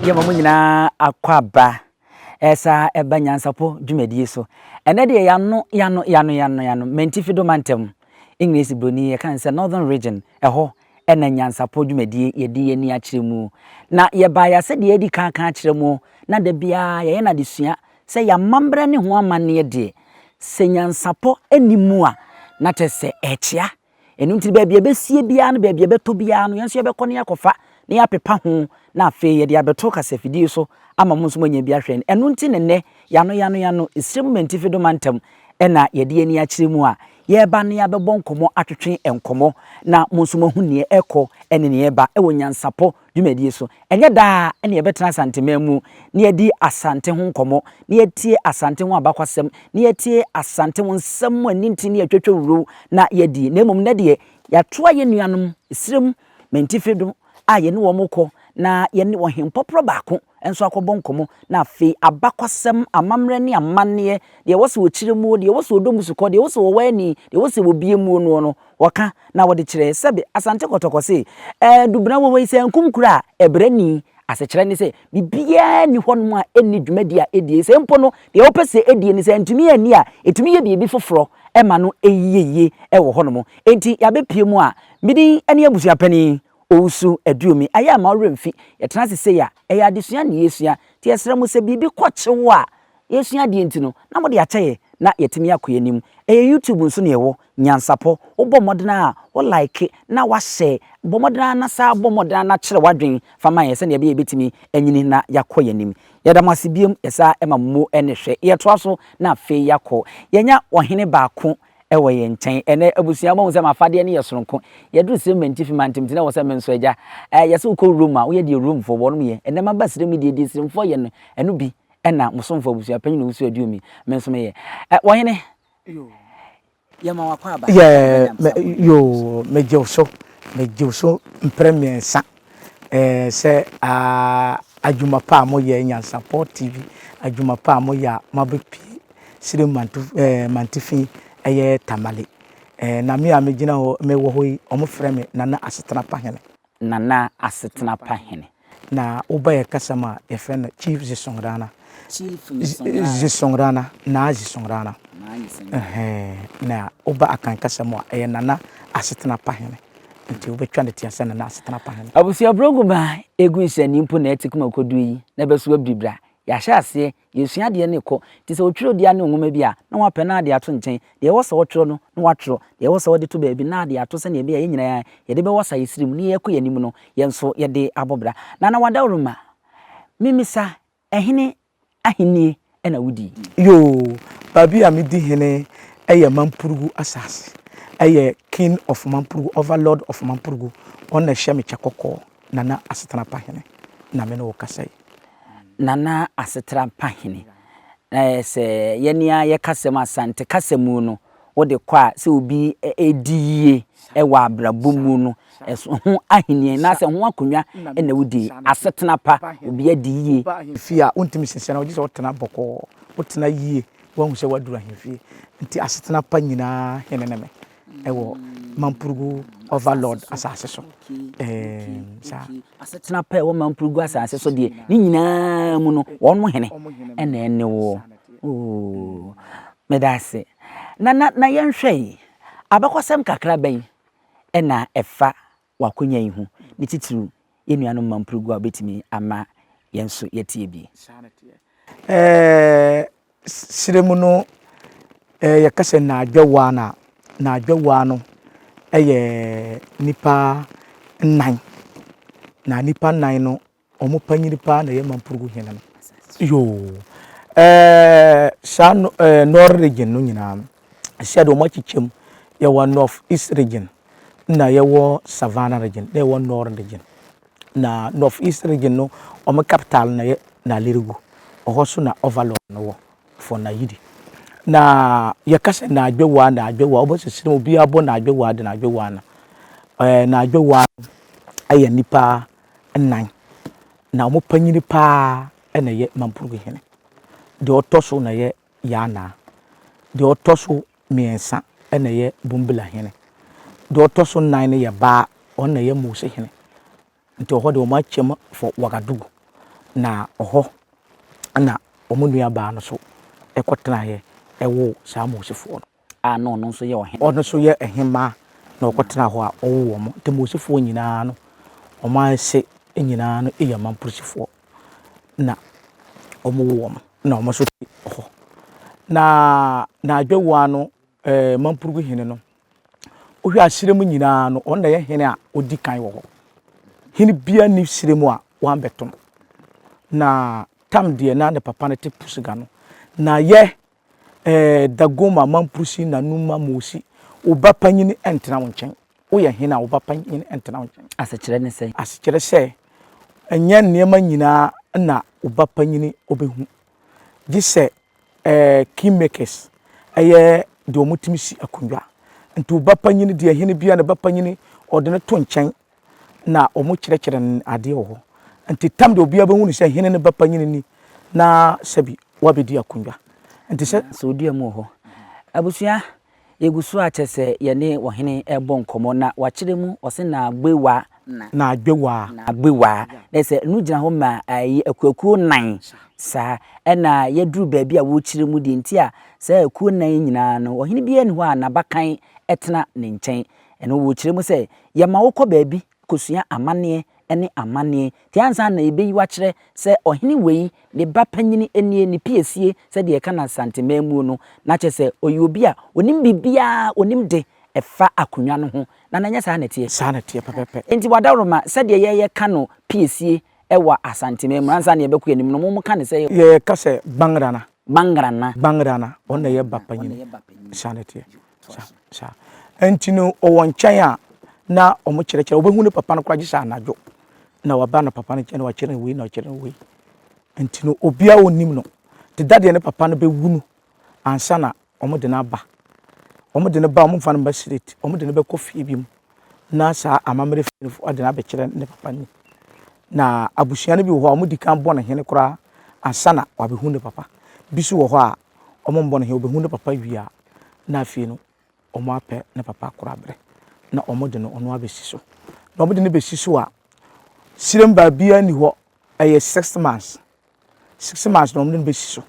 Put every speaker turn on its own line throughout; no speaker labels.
yɛma mo nyinaa akɔ aba ɛsa ɛba nyansapo dwumadie so ɛnɛ deɛ yano yano yano yano yano mantifi do mantam english broni yɛka ne sɛ northern region ɛhɔ na nyansapɔ dwumadie yɛde yɛn ani akyerɛ mu. Na yɛbaeɛ sɛdeɛ yɛadi kan aka akyerɛ mo, na da biara yɛyɛ no adesua, sɛ yɛn amammerɛ ne ho amanneɛ deɛ, sɛ nyansapɔ nni mu a, na kyerɛ sɛ ɛrekyea. Ɛno nti no, baabi a yɛbɛsie biara ne baabi a yɛbɛtɔ biara no, yɛn nso yɛbɛkɔ na yɛakɔfa na yɛapepa ho, na afei yɛde abɛto kasafidie so ama mo nso moanya bi ahwɛ. Ɛno nti na ɛnnɛ, yɛanoyɛanoyɛano, Sirem Mantifi Doma Ntam na yɛde yɛn ani akyerɛ mu a, Yɛreba na yɛabɛbɔ nkɔmmɔ atwetwe nkɔmmɔ na mo nso moahu nea ɛrekɔ ne nea ɛreba wɔ Nyansapɔ dwumadie so. Ɛnyɛ daa na yɛbɛtena Asanteman mu na yɛadi Asante ho nkɔmmɔ, na yɛatie Asante ho abakwasɛm, na yɛatie Asante ho nsɛm mu anintin ne atwatwawuro na yɛadi, na mmom nnɛ deɛ yɛatoa yɛn nuanom, Esrem Mentife do, a yɛne wɔn rekɔ na yɛne Ɔhempɔporɔ baako nso akɔbɔ nkɔmmɔ, na afei abakɔsɛm, amammerɛ ne amanneɛ, deɛ ɛwɔ sɛ wɔkyerɛ muo, deɛ ɛwɔ sɛ wɔdɔ mu sukɔ, deɛ ɛwɔ sɛ wɔwɔ ani, deɛ ɛwɔ sɛ wɔbue muo noɔ no, wɔka na wɔde kyerɛ. Sɛbe Asante Kɔtɔkɔ se, Ɛɛ, Dubena wɔ hɔ yi, sɛ ankum kura a, ɛbrɛ ni. Asekyerɛ ne sɛ, biribiara nni hɔnom a ɛnni dwumadi a ɛdie, ɛsɛ mpo no, deɛ wopɛ sɛ ɛdie no, sɛ antumi anni a, ɛtumi yɛ biribi foforɔ ma no yie wɔ hɔnom. Enti yɛabɛpue mu a, me din ne Abusuapanin Owusu Aduomi, Ayɛ a mma wo werɛ mfi. Yɛtena ase sei a, ɛyɛ adesua na yɛresua. Nti yɛsrɛ mo, sɛ biribi kɔ kye wo a, yɛresua adeɛ nti no, na mode akyɛ yɛn na yɛatumi akɔ yɛn anim. Ɛyɛ YouTube nso na yɛwɔ. Nyansapɔ, wobɔ mmɔden ara a, wo like na woashare. Bɔ mmɔden ara na saa, bɔ mmɔden ara na kyerɛ w'adwene fa ma yɛn sɛdeɛ ɛbɛyɛ a yɛbɛtumi anyini na yɛakɔ yɛn anim. Yɛda mo ase bio, yɛsan ma mo mu ne hwɛ. Yɛtoa so na afei yɛakɔ. Yɛanya ɔhene baako wɔ yɛn nkyɛn. Ɛnnɛ, abusua, moahu sɛ m'afadeɛ no yɛ sononko. Yɛduru Sirem Mantifi mantam nti, na ɛwɔ sɛ me nso, Agya, eh, yɛ sɛ wokɔ Rome a, woyɛ deɛ Romefoɔ, wɔnom, yɛ. Ɛnnɛ maba Sirem yi deɛ, deɛ Siremfoɔ yɛ no, ɛno bi na mo somfoɔ abusuapanin a ɔwusu aduom yi, me nso meyɛ. Eh, Ɔhene, yɛma wo akwaaba. Yɛ, me, yoo,
megye wo so, megye wo so mprɛ mmiɛnsa. Ɛɛ sɛ aa adwuma pa a moyɛ Nyansapɔ TV adwuma pa a moyɛ a moaba pie Sirem manto ɛɛ mantifi ɛyɛ Tamale ɛɛ na me a megyina hɔ mewɔ hɔ yi wɔfrɛ me Nana Asetena Pa Hene. Nana Asetena Pa Hene. Na woba yɛn kasa mu a yɛfrɛ no Chief Zisongrana. Chief Zisongrana. Zisongrana, Naa Zisongrana. Naa Zisongrana. Ɛhɛɛ na woba Akan kasa mu a ɛyɛ Nana Asetena Pa Hene. Enti wobɛtwa no teaa sɛ na n'asetena paa no. Abusua brɔgu ba a
egu nsɛnni mpo na ɛte koma ɛkɔduru yi na ɛbɛso abiri bere a yɛahyɛ aseɛ, yɛresua adeɛ no rekɔ. Te sɛ otwerɛdua ne nwoma bi a na wapɛ na ade ato nkyɛn, deɛ ɛwɔ sɛ ɔtwerɛ no na watwerɛ, deɛ ɛwɔ sɛ ɔde to baabi na ade ato sɛnea ɛbɛyɛ a yɛn nyinaa yɛde bɛwasa yɛn siri mu na yɛrekɔ yɛn anim no yɛn nso yɛde abɔ bra. Nana Wadaworoma, Memmisa Hene ahennie na wodi. Yoo,
baabi a medi hene yɛ Mampurugu asase. Ɛyɛ King of Mampurugu, Overlord of Mampurugu, wɔn na ɛhyɛ me kyɛ kɔkɔɔ. Nana Asetena Pa Hene na me ne wo kasa yi. Nana
Asetena Pa Hene, na yɛ sɛ yɛn ara yɛ kasa mu, Asante kasa mu no, wode kɔ a sɛ obi redi yie wɔ abrabɔ mu no, ho ahenni anaasɛ ho akonnwa na wodi, asetena pa, obi adi yie. Fie a wontumi
nsiesiɛ no, gye sɛ wotena bɔkɔɔ, wotena yie, woahu sɛ woaduru ahemfie. Enti asetena pa nyinaa hene ne me wɔ Mampurugu Overlord asase so. Ɛɛm, saa. Asetena
pa ɛwɔ Mampurugu asase so deɛ, ne nyinaa mu no, wɔn hene ɛna ɛne woɔ. Oo, Meda ase. Na, na, na yɛnhwɛ yi. Abakɔsɛm kakra bɛn na ɛfa w'akonya yi ho, ne titiriw yɛn nuanom mma mpurugu a wobetumi ama yɛn nso yɛatie bi? Saa na ɛteɛ. Ɛɛ,
srɛ mu no, ɛɛ, yɛka sɛ nnaadwawaa no a, nnaadwawaa no yɛ nnipa nnan, na nnipa nnan no Ɔmo panyin paa na ɛyɛ Mampurugu hene no. Yoo saa North region no nyinaa no, ɛsɛ deɛ ɔmo akyekyɛ mu. Yɛwɔ North East region, na yɛwɔ Savannah region, na yɛwɔ Northern region. Na North East region no, ɔmo capital na yɛ Nalerigu. Ɔhɔ so na overlord no wɔ for Nayidi. Na yɛka sɛ Naadwewaa, Naadwewaa, ɔbɔ sɛ sini obiara bɔ Naadwewaa de Naadwewaa no. Ɛɛ Naadwewaa no yɛ nipa nnan, na wɔn panyin pa ara na ɛyɛ Mampruk hene. Deɛ ɔtɔ so na ɛyɛ Yaanaa. Deɛ ɔtɔ so mmiɛnsa na ɛyɛ Bumbila hene. Deɛ ɔtɔ so nnan no yɛ baa, ɔno na ɛyɛ Mose hene. Nti ɛhɔ deɛ wɔakyɛm for Wagadugu, na ɛhɔ na wɔn nuabaa no nso kɔtenaeɛ woo saa Mosefoɔ no. a na ɔno nso yɛ
ɔhene. Ɔno nso yɛ ɔhemmaa
na ɔkɔtenaa hɔ a ɔwoo wɔn. Nti Mosifoɔ nyinaa no, wɔn ase nyinaa no yɛ Mampusifoɔ na wɔwoo wɔn na wɔn nso te hɔ. Na n'adwowaa no, ɛɛ Mampurugu hene no, wohwɛ a serɛ mu nyinaa no, ɔno na ɛyɛ hene a ɔdi kan wɔ hɔ. Hene biara nni serɛ mu a wambɛto no. Na Tam deɛ na ne papa no te Pusuga no. Na yɛ Ɛɛ, Dagoma, Mamprosi, Nanuma, Mosi, wo ba panyin ntena wo nkyɛn. Woyɛ hene a, wo ba panyin ntena wo nkyɛn. Asekyerɛ ne sɛn?
Asekyerɛ sɛ,
ɛnyɛ nneɛma nyinaa na wo ba panyin bɛhu, gye sɛ ɛɛ, kingmakers, ɛyɛ deɛ wɔtumi si akonnwa. Nti wo ba panyin deɛ, hene biara ne ba panyin, wɔde no to nkyɛn. na wɔkyerɛkyerɛ no adeɛ wɔ hɔ. Nti tam deɛ obiara bɛhu no sɛ hene no ba panyini ni na sɛbi wabɛdi akonnwa. Nti sɛ. Sɛ ɔdua mu wɔ hɔ.
Abusua, yɛgu so ara kyɛ sɛ yɛne ɔhene rebɔ nkɔmmɔ na wakyerɛ mu, ɔse Naagbewaa. Na. Naagbewaa.
Naagbewaa. Na
sɛ ɛno gyina hɔ ma ɛyɛ akuakuo nnan saa. Ɛna yɛduru baabi a wɔrekyerɛ mu deɛ nti a saa akuo nnan yi nyinaa no ɔhene biara nni hɔ a n'abakan tena ne nkyɛn. Ɛno wɔ kyerɛ mu sɛ yɛma wokɔ baabi kosua amanneɛ ne amanneɛ nti ansa na yɛbɛyi wo akyerɛ sɛ ɔhene wei ne ba panyini nie, ne piesie sɛdeɛ yɛka no Asante man muo no, na kyerɛ sɛ ɔyɛ obi a ɔnim biribiara, ɔnim de ɛfa akonwa no ho. Nana nyɛ saa na ɛteɛ? Saa na ɛteɛ pɛpɛpɛ. Nti Wadawuroma sɛdeɛ yɛ yɛ ka no piesie wɔ Asante man mu ansa na yɛbɛkɔ yɛnim no mo mo ka no sɛ. Yɛ ka sɛ
Bangrana. Bangrana. Bangrana, ɔno na ɛyɛ ba panyini. Saa na ɛteɛ. Toa so. Saa. Enti no, ɔwɔ nkyɛn a, na wɔkyerɛkyerɛ, wɔbɛhu ne papa no koraa gye sɛ anadwo, na waba no papa no nkyɛn na wakyerɛ no wei na wakyerɛ no wei. Enti no, obiara a ɔnnim no, Deda deɛ ne papa no bɛwu no ansa na wɔde no aba. Wɔde no ba a, wɔmfa no mma straight, wɔde no bɛkɔ fie bi mu na saa amammerɛ fie no foɔ de no abɛkyerɛ ne papa no ni. Na abusua no bi wɔ hɔ a, wɔdi kan bɔ no hene koraa ansa na wabɛhu ne papa. Bi nso wɔ hɔ a, ɔmo mbɔ no he, obehu ne papa wie a, nna afei no ɔmo apɛ ne papa akora abrɛ, na ɔmo de no ɔno abesi so. Na ɔmo de no besi so a, sirem baabiaa nni hɔ, ɛyɛ six months, six months na ɔmo de no besi so.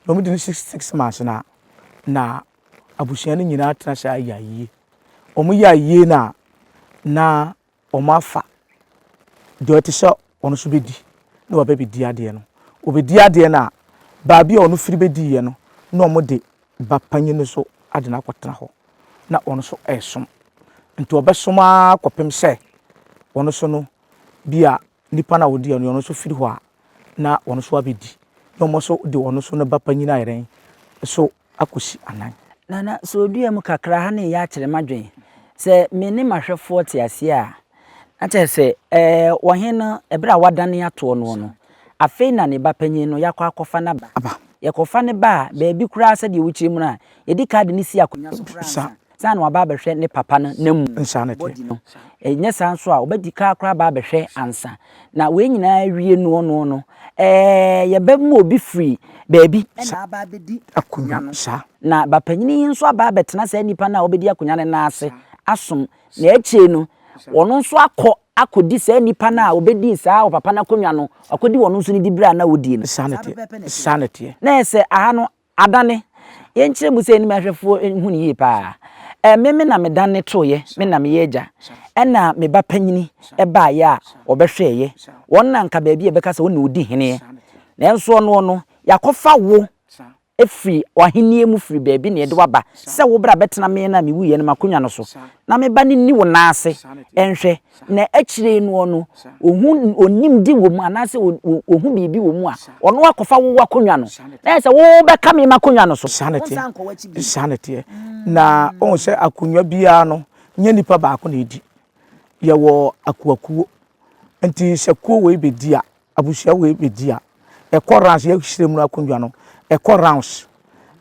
Na ɔmo di no six six months no a, na abusua no nyinaa tena ase ayɛ ayie. Ɔmo yɛ ayie no a, na wɔafa deɛ ɔte sɛ ɔno nso bɛdi na waba bɛdi adeɛ no. Ɔbɛdi adeɛ no a, baabi a ɔno firi bɛdiiɛ no na wɔde ba panin no so ade no akɔtena hɔ na ɔno nso resom. Nti ɔbɛsom ara kɔpem sɛ ɔno nso no bi a Nipa no a ɔdiiɛ no, ɔno nso firi hɔ a, na ɔno nso abɛdi, na wɔn nso de ɔno nso ne ba panyin ayɛ dɛn? So akɔsi anan. Nana, sɛ ɔdua
mu kakra ha na ɛyɛ akyere m'adwene. Sɛ me ne m'ahwɛfoɔ te aseɛ a, na kyerɛ sɛ, ɛɛ, ɔhene no, ɛberɛ a wɔadane atoɔ noɔ no, afei na ne ba panyin no, yɛakɔ akɔfa no aba. Yɛkɔfa no ba a, baabi koraa sɛdeɛ wokyerɛ mu no a, yɛdi kan de no si akonnwa so koraa ansa. Ansa na waba abɛhwɛ ne papa no n'amu body no,
ɛnyɛ saa
nso a ɔbɛdi kan akora aba abɛhwɛ ansa. Na wei nyinaa awie noɔ noɔ no, ɛɛ yɛbɛ ma obi firi baabi na aba abɛdi akonwa no.
Na bapanyini yi
nso aba abɛtena saa nipa no a ɔbɛdi akonwa no nan ase asom. Na akyire no, ɔno nso akɔ akɔdi saa nipa no a ɔbɛdii saa ɔpapa no akonwa no, wakɔdi ɔno nso ne dibere a na ɔdie no. Saa ne teɛ.
Na ɛyɛ sɛ aha
no Adane, yɛnkyerɛ mu sɛ anim ahwɛfoɔ nhu no yie paa. Ɛme me na medane tooeɛ, me na meyɛ agya. Ɛna me ba panyini baaeɛ a ɔbɛhwɛeɛ. Wɔn na anka baabi a yɛbɛka sɛ ɔne ɔdi heneɛ. Nanso ɔnoɔ no, yɛakɔfa wo firi w'ahennie mu firi baabi na yɛde wo aba sɛ wo bra bɛtena me na mewuiɛ no m'akonnwa no so, na me ba no nni wo nan ase nhwɛ na akyire yi noɔ no ɔhu ɔnimdi wɔ mu anaasɛ ɔhu biribi wɔ mu a ɔno akɔfa wo akonnwa no na yɛ sɛ wobɛka me makonnwa no so saa ne teɛ saa
ne teɛ na ɔhu sɛ akonnwa biara no nyɛ nipa baako na ɛdi yɛwɔ akuakuo nti sɛ kuo wei bɛdi a abusua wei bɛdi a ɛkɔ rounds yɛhyerɛ mu no akonnwa no ɛkɔ rounds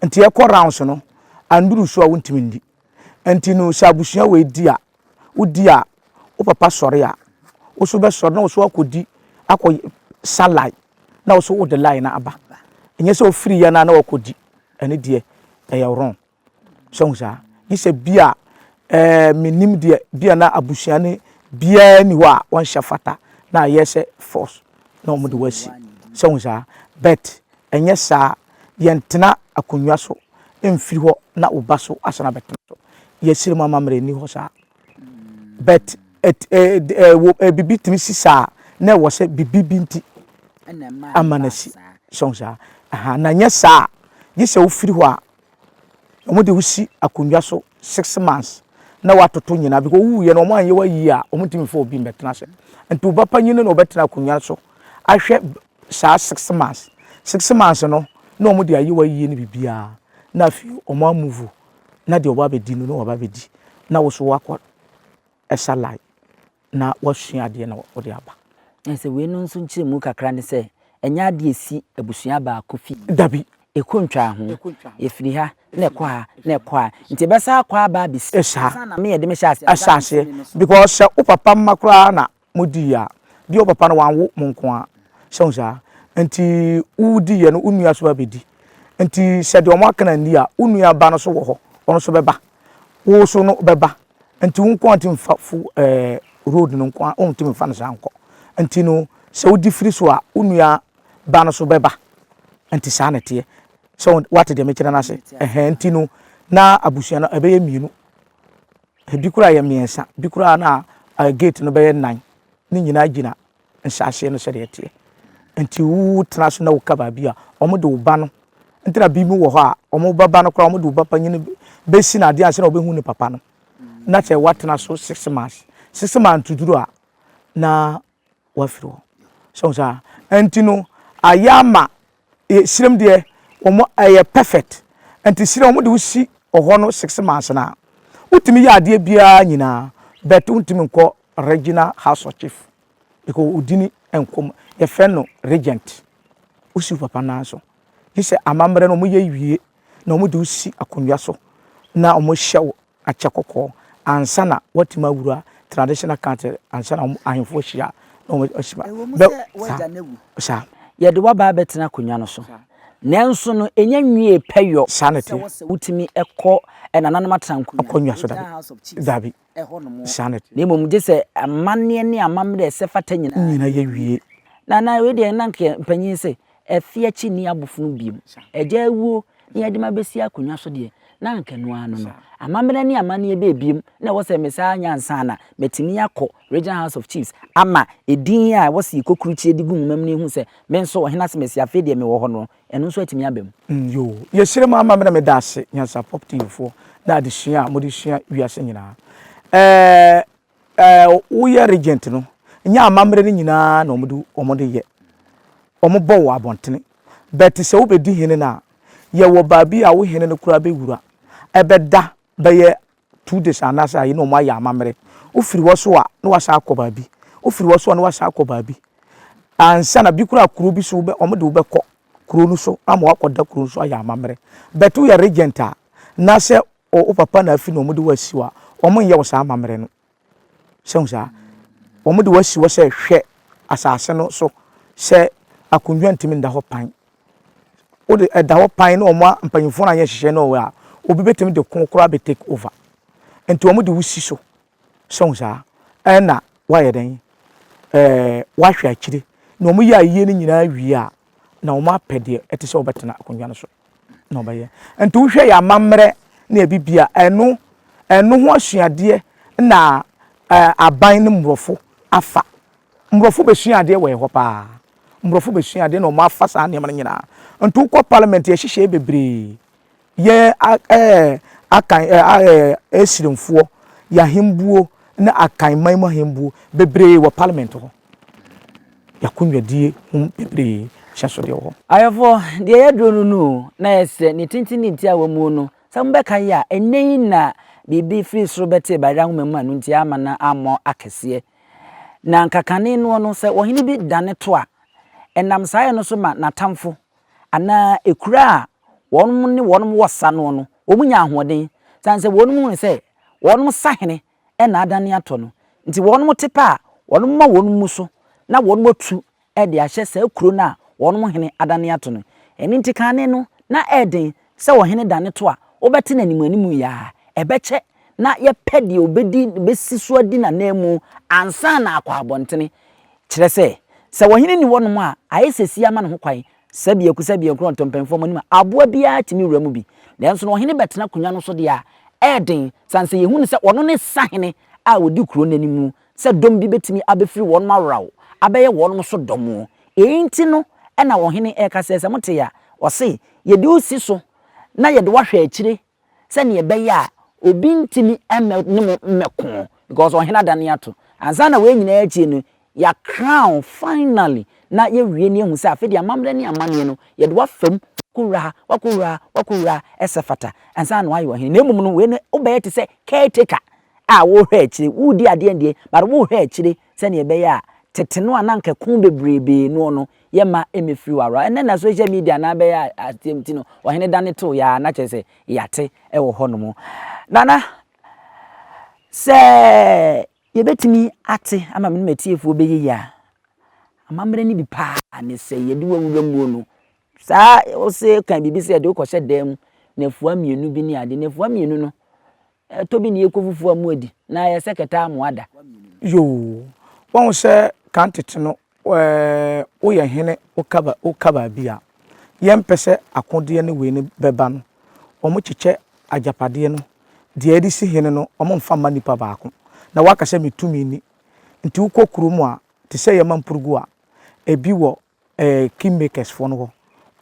nti ɛkɔ rounds no anduru so a wontumi ndi Ɛnti no sɛ abusua wei di a wo di a wo papa sɔre a wo so bɛsɔre na wo so akɔ di akɔ sa line na wo so wo de line no aba nyɛ sɛ wo firi yɛ no a na wakɔ di ɛne deɛ ɛyɛ wrong sɛ hu saa gye sɛ bi a ɛɛ menim deɛ bi a na abusua ne biara ni hɔ a wɔnhyɛ fata na ayɛ sɛ force. na wɔde wo asi. So wohu saa? But ɛnyɛ saa. Yɛntena akonnwa so mfiri hɔ na wo ba so asan abɛtena so. Yɛsrɛ mu amammerɛ nni hɔ saa. But ɛt eh eh wo eh biribi tumi si saa na ɛwɔ sɛ biribi bi nti ama no asi. So wohu saa? Aha, na ɛnyɛ saa a, gye sɛ wofiri hɔ a. Wɔde wo si akonnwa so six months na watoto nyinaa because wowuiɛ no wɔanyɛ wayie a wɔntumi mfa obi mmɛtena ase. Nti wo ba panyin no na ɔbɛtena akonnwa no so ahwɛ saa six months. Six months no na wɔde ayɛ wayie ne biribiara na afei wɔn amuvu na deɛ ɔba abɛdi no na waba abɛdi na wo nso woakɔ ɛsa line na wasua adeɛ na ɔde aba. Ɛne sɛ wei no nso
nkyerɛmu kakra ne sɛ ɛnyɛ adeɛ a ɛsi abusua baako fi. Dabi. Ɛkɔ
ntwaa ho.
Ɛfiri ha na ɛkɔ ha na ɛkɔ ha nti ɛbɛsan akɔ aba abɛsi ha. Ɛsa. Ansa na me yɛde me hyɛ
aseɛ.
Ahyɛ aseɛ because
sɛ wo papa mma koraa na mo di yɛ a, deɛ wo papa no wanwo mo nko ara. Sɛ wohu saa? Nti wo di yɛ no wo nua nso bɛba abɛdi. Nti sɛ deɛ wɔn aka no anni a, wo nua ba no nso wɔ hɔ, ɔno nso bɛba. Wo nso no bɛba. Nti wo nkoa ntumi mfa fo ɛɛ road no nkoa wontumi mfa no saa nkɔ nti no sɛ wodi firi so a wo nua ba no so bɛba nti saa na ɛteɛ sɛ wate deɛ mekyerɛ no ase ɛhɛn nti no na abusua no ɛbɛyɛ mmienu ebi koraa yɛ mmiɛnsa bi koraa na gate no bɛyɛ nan ne nyinaa gyina nhyɛaseɛ no sɛdeɛ ɛteɛ. Nti wo tena so na wo ka baabi a ɔmo de wo ba no nti na bi mo wɔ hɔ a ɔmo ba ba no koraa ɔmo de wo ba panyini bɛ si no adeɛ ansa na ɔbɛ hu ne papa no na sɛ wa tena so six months six months to duru a na wa firi hɔ so saa nti no ayɛ ama eh srem deɛ wɔn ɛyɛ perfect nti srɛ wɔn de wo si ɔhɔ no six months na wotumi yɛ adeɛ biara nyinaa but wontumi nkɔ regional house of chief because wodini nkɔm yɛfrɛ no regent wosi wo papa nan so gye sɛ amammerɛ no wɔyɛ wie na wɔn de wo si akonnwa so na wɔn hyɛ wo akyɛ kɔkɔɔ ansa na wɔatumi awura traditional country ansa na wɔn ahemfo ahyia na wɔn asi ba. Ɛwɔ mu sɛ w'agya no awu.
Saa. Yɛde w'aba abɛtena akonnwa no so. Nanso no, ɛnya nwiee pɛ yɔ. Saa na ɛteɛ. Sɛ wɔ sɛ wotumi
kɔ
nananom atrankonnwa. Akonnwa so dabi. Regional House of
Chiefs. Dabi. Ɛhɔ nom. Saa na ɛteɛ. Na mmom gye sɛ
amanneɛ ne amammerɛ a ɛsɛ fata nyinaa. Nyinaa yɛ wie.
Na na wei deɛ
na anka mpanyin se. Afi akyi nni abofono bio. Agyaa wuo na yɛde me abɛsi akonnwa so deɛ, na anka ɛno ara no no. Amammerɛ ne amanneɛ bɛn bio na ɛwɔ sɛ mesan nya ansa na matumi akɔ Regional House of Chiefs ama edin a ɛwɔ sɛ yɛkɔ kurukyire de gu nwoma mu no ahu sɛ me nso Ɔhene Asmasi afei deɛ mewɔ hɔ no, ɛno nso atumi aba mu? Yoo. Yɛhyira
mo amammerɛ. Meda ase, nyansapɔp tiefoɔ, ne adesua a mode sua wiase nyinaa. Ɛɛ. Woyɛ regent no, nyɛ amammerɛ no nyinaa na wɔde yɛ. Wɔbɔ wɔ abɔntene. But sɛ wobɛdi hene no a, yɛwɔ baabi a wo hene no koraa bɛwura. Ɛbɛda bɛyɛ two days anaasɛ ayi na wɔayɛ amammerɛ. Wofiri hɔ so a, na woasan akɔ baabi. Wofiri hɔ so a, na woasan akɔ baabi. Ansa na bi koraa kuro bi so wobɛ wɔde wo bɛkɔ kuro no so ama woakɔda kuro no so ayɛ amammerɛ. But woyɛ regent a, na sɛ O wo papa na afi na wɔde wo asi hɔ a, wɔnyɛ wo saa amammerɛ no. So ahu saa? Wɔde wo asi hɔ sɛ hwɛ asase no so sɛ akonnwa ntumi nda hɔ pan. Wode ɛda hɔ pan na wɔn a mpanyimfoɔ no anyɛ nhyehyɛe no wɔ hɔ a, obi betumi de ko koraa abɛ take over. Enti wɔde wo si so So wohu saa? Ɛna woayɛ dɛn? Ɛɛ, woahwɛ akyire. Na wɔyɛ ayie no nyinaa wie a, na wɔapɛ deɛ ɛte sɛ wɔbɛtena akonnwa no so na wɔbɛyɛ. Nti wohwɛ yɛn amammerɛ ne abibi a, ɛno, ɛno ho asuadeɛ na ɛɛ aban ne mmorɔfo afa. Mmorɔfo bɛsua adeɛ wɔ yɛn hɔ pa ara. Mmorɔfo bɛsua adeɛ na wɔafa saa nneɛma no nyinaa. Nti wokɔ parliament, yɛhyehyɛɛ bebree. Yɛ a ɛɛ Akan ɛ a ɛɛ Asirimfoɔ yɛ ahembuo ne Akan man mu ahembuo bebree wɔ Parliament hɔ. Y'akonnwadie ho bebree ahyɛnsodeɛ wɔ hɔ. Ayɛfoɔ, deɛ yɛduro
no no o, na ayɛ sɛ ne tenten ne ntia a wamuo no, sɛ mobɛka yɛ a, ɛnnɛ yi na biribi firi soro bɛtee Bayerɛ nwoma mu a no ntia amma no ammɔ akɛseɛ. Na anka kane noɔ no, sɛ ɔhene bi dane to a, ɛnam saa yɛ no so ma n'atamfo anaa akuraa a wɔn ne wɔn wɔ sa noɔ no, wɔn nya ahoɔden, sane sɛ wɔn hunu sɛ wɔn sahene na adane atɔ no nti, wɔn te pɛ a wɔn ma wɔn mu so na wɔn atu de ahyɛ saa kuro no a wɔn hene adane ato no. Ɛno nti kane no na ɛyɛ den sɛ ɔhene da ne to a, wobɛte no animuanimu yaa. Ɛbɛkyɛ na yɛpɛ deɛ ɔbɛdi bɛsi so adi n'ananmu ansa na akɔ abɔntene. Kyerɛ sɛ, sɛ ɔhene nni hɔnom a, ayɛ sɛ sie ama ne ho kwan. Sɛbiaku sɛbiaku na ɔtɔmpɛnfoɔ mu anim a, aboa biara tumi wura mu bi. Nanso na ɔhene bɛtena akonnwa no so deɛ a, ɛyɛ den, sane sɛ yɛhu no sɛ ɔno ne sahene a ɔdi kuro no anim sɛ dɔm bi bɛtumi abɛfiri wɔnom aworawo abɛyɛ wɔnom so dɔm o, yei nti no na ɔhene reka sɛ, sɛ mote a, ɔse, yɛde wo si so na yɛde wo ahwɛ akyire sɛdeɛ ɛbɛyɛ a obi ntumi mmɛ ne mo mmɛko because ɔhene adane ato, ansa na wei nyinaa akyie no yɛ crown finally na yɛwie na yɛhu sɛ afei deɛ amammerɛ ne amanneɛ no yɛde wo afa mu, wakɔwura ha, wakɔwura ha, wakɔwura ha, ɛsɛ fata ansa na wayɛ ɔhene, na mmom no wei no wobɛyɛ te sɛ caretaker a worehwɛ akyire, woredi adeɛ ndeɛ, but worehwɛ akyire sɛdeɛ ɛbɛyɛ a tete no a na anka ɛko bebreebee noɔ no, yɛmma ɛmmɛfiri w'awerɛho. Ɛnnɛ na social media no abɛyɛ adeɛ nti no, ɔhene dane tooeɛ ara na kyerɛ sɛ yɛate wɔ hɔnom. Nana, sɛ yɛbɛtumi ate ama me ne m'atiefoɔ bɛyɛ yie a, amammerɛ no bi pa ara ne sɛ yɛde wo awura muo no, saa wose ka biribi sɛ yɛde wo kɔhyɛ dan mu, nnafua mmienu bi ne adeɛ, nnafua mmienu no, Ɛtɔ bi na yɛkɔ fufuo a moadi na ayɛ sɛ kɛtɛ a moada. Yoo
wahu sɛ kan tete no woyɛ hene woka baabi a yɛmpɛ sɛ akodeɛ ne wei no bɛba no wɔn kyekyɛ agyapadeɛ no deɛ yɛde si hene no wɔn mfa mma nipa baako na waka sɛ me tumi ni nti wokɔ kurom a te sɛ yɛma mpurugu a ebi wɔ ɛɛ king makers foɔ no hɔ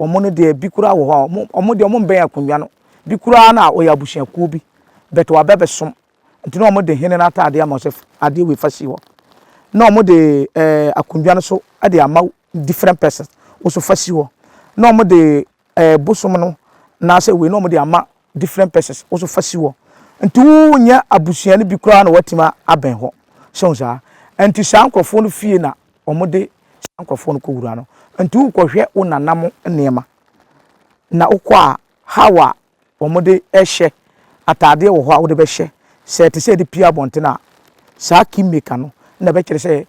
wɔn no deɛ bi koraa wɔ hɔ a wɔn wɔn deɛ wɔn mbɛn akonnwa no bi koraa na ɔyɛ abusuakuo bi but wabɛ bɛsom nti na wɔn de hene no ataadeɛ ama sɛ adeɛ wei fa si hɔ na wɔn de ɛɛ akonnwa no so ɛde ama different persons woso fa si hɔ na wɔn de ɛɛ bosom no anaasɛ wei na wɔde ama different persons wo nso fa si hɔ nti wonyɛ abusua no bi koraa na woatumi abɛn hɔ sɛ wo saa nti saa nkurɔfoɔ no fie na wɔde saa nkurɔfoɔ no kɔwura no nti wokɔhwɛ wo nana mo nneɛma na wokɔ a how a wɔde hyɛ ataadeɛ wɔ hɔ a wode bɛhyɛ sɛ ɛte sɛ de pue abɔntene a saa key maker no na ɛbɛkyerɛ sɛ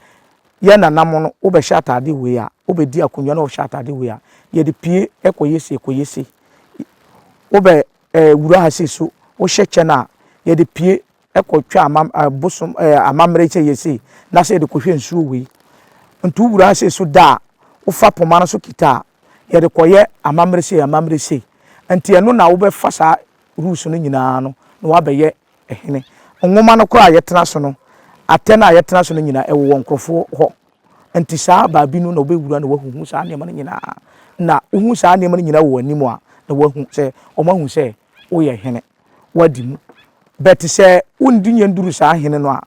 yɛn nananom no wobɛhyɛ ataadeɛ wei a wobɛdi akonnwa na wɔhyɛ ataadeɛ wei a yɛde pue ɛkɔyɛ sei ɛkɔyɛ sei wobɛ ɛɛ wura ha sei so wohyɛ kyɛ no a yɛde pue kɔ twa amam eh, bosom eh, amammerɛ sɛ yɛ sei na sɛ yɛde kɔhwɛ nsuo wei nti wowura sei so da a wofa poma no so kita a yɛde kɔyɛ amammerɛ sei amammerɛ sei nti ɛno na wobɛfa saa rules no nyinaa no na woabɛyɛ hene nwoma no koraa a yɛtena so no atɛ no a yɛtena so no nyinaa ɛwowɔ nkurɔfoɔ hɔ nti saa baabi no na wobɛwura na wahuhu saa nneɛma no nyinaa na wohu saa nneɛma no nyinaa wɔ anim a na wahu sɛ wɔahu sɛ woyɛ hene wadi mu. But sɛ wondi nya nduru saa hene no a,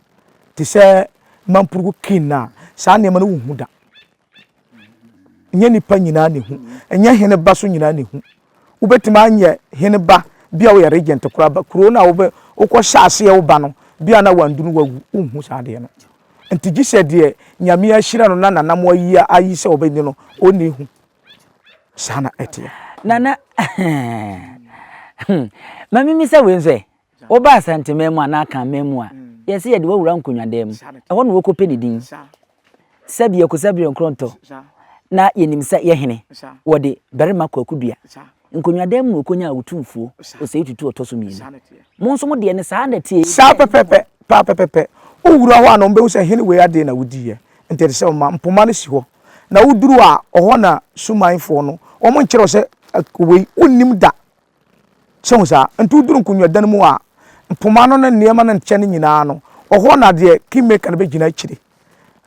te sɛ mampurugu king no a, saa nneɛma no wonhu da. Nyɛ nipa nyinaa na ehu. Nyɛ hene ba so nyinaa na ehu. Wobɛtumi anyɛ hene ba bi a woyɛ regent koraa ba kuro no a wobɛ wokɔhyɛ aseɛ wo ba no bi a na wandunu wawu wonhu saa adeɛ no. Nti gye sɛ deɛ Nyame ahyira no na nanamoa yi ayi sɛ ɔbɛni no ɔnni hu. saa na ɛteɛ. nana
ma mimisa wei nso ɛ woba asanteman mu anaa kanman mu a yɛsɛ yɛde wawura nkonwadan mu ɛhɔ na wɔkɔpɛ ne din sɛbi ɛkosa bere nkorɔntɔ na yɛnim sɛ yɛ hene wɔde barima kwaku dua Nkonnwadam mu okonya a otu mfuo, osɛe tutu ɔtɔ so mmienu. Mo nso mo deɛ no saa na ɛteɛ. Saa pɛpɛpɛ, paa
pɛpɛpɛ. Wo wura hɔ a na wɔn bɛhu sɛ hene wei adee na wodiiɛ, nti ɛte sɛ wɔma mpoma no si hɔ, na wo duru a ɔhɔ na sumanfoɔ no, wɔn nkyerɛ wo sɛ wei wonnim da, sɛ hu saa, nti wo duru nkonnwadan mu a mpoma no ne nneɛma no nkyɛ no nyinaa no, ɔhɔ na deɛ kingmaker no bɛgyina akyire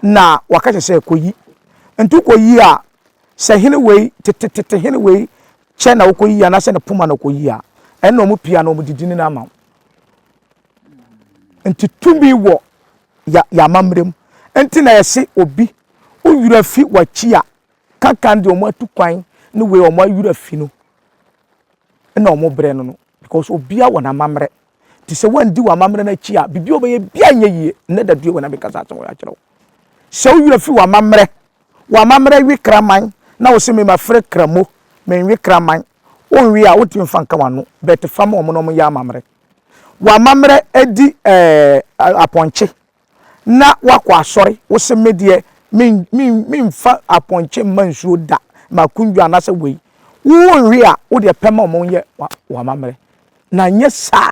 na waka kyerɛ sɛ kɔyi, nti wo kɔ yi a sɛ hene wei, tetetete hene wei kyɛ na wokɔyi anaasɛ ne poma na wokɔyi a, ɛnna wɔn pii a na wɔde din no ama wo. Nti tumi wɔ yɛ yɛ amammerɛ mu. Nti na yɛse obi wo werɛ fi w'akyi a, kankan deɛ wɔn atu kwan ne wei wɔn awerɛ afi no na wɔn brɛ no no because obiara wɔ n'amammerɛ. Nti sɛ woandi w'amammerɛ no akyi a, biribi a wobɛyɛ biara nyɛ yie. Nnɛ dadue wɔ na mekasa asɛm wɔ akyerɛ wo. Sɛ wo werɛ fi w'amammerɛ W'amammerɛ we kraman na wo se me ma fre kramo menwe kraman wo nwe a wo ntimi nfa nka w'ano but fa ma wɔn na wɔn nyɛ amammerɛ W'amammerɛ adi ɛɛh apɔnkye na w'akɔ asɔre wo se me deɛ me me me nfa apɔnkye mma nsuo da m'akundwa anasɛ wei wo nwe a wo deɛ pɛ ma wɔn nyɛ w'amammerɛ na nyɛ saa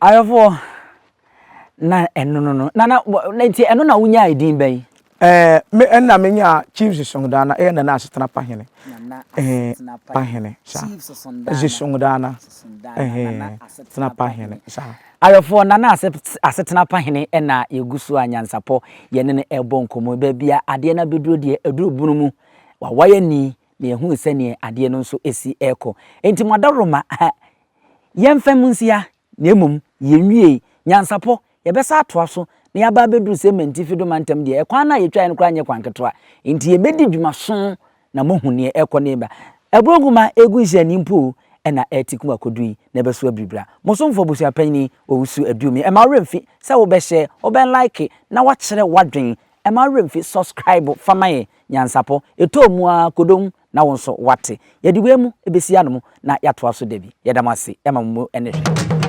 Ayeforɔ na ɛno no no na na nti ɛno na wonyaa edin bɛn. Ɛɛ me ɛna
me nyaa chiefs songdaana ɛyɛ nana asetena pahene ɛɛ pahene sa ɛsi songdaana ɛɛ asetena pahene sa. Ayeforɔ nana
ase asetena pahene ɛna yɛgu so a nyansapɔ yɛne no ɛbɔ nkɔmɔ baabi a adeɛ no abɛduro deɛ ɛduro bunu mu wawayɛ ni na yɛhuu sɛdeɛ adeɛ no nso si rekɔ. Enti mo adaworoma, ha, yɛmfa mu nsia, na mmom yɛnwiei. Nyansapɔ, yɛbɛsan atoa so, na yɛaba abɛduru Sementi Fido Mantam deɛ, ɛkwan no a yɛtwaeɛ no koraa nyɛ kwan ketewa. Enti yɛbɛdi dwuma so na moahu deɛ ɛrekɔ na ɛreba. Aburo nwoma a ɛregu nhyira ani mpo na ɛretikum akɔduru yi, na ɛbɛso abiribiri a. Mo somfoɔ abusuapanyini Owusu Aduomi, mma wo werɛ mfi sɛ wobɛhyɛ, wobɛlike, na woakyerɛ w'adwene Ɛma wo werɛ mfi subscribe fa ma yɛn Nyansapɔ ɛtɔɔ mu aa kodom na wo nso wate yɛde wei mu bɛsi anom na yɛatoa so dabi yɛda mo ase ɛma mo mu ɛne hwɛ.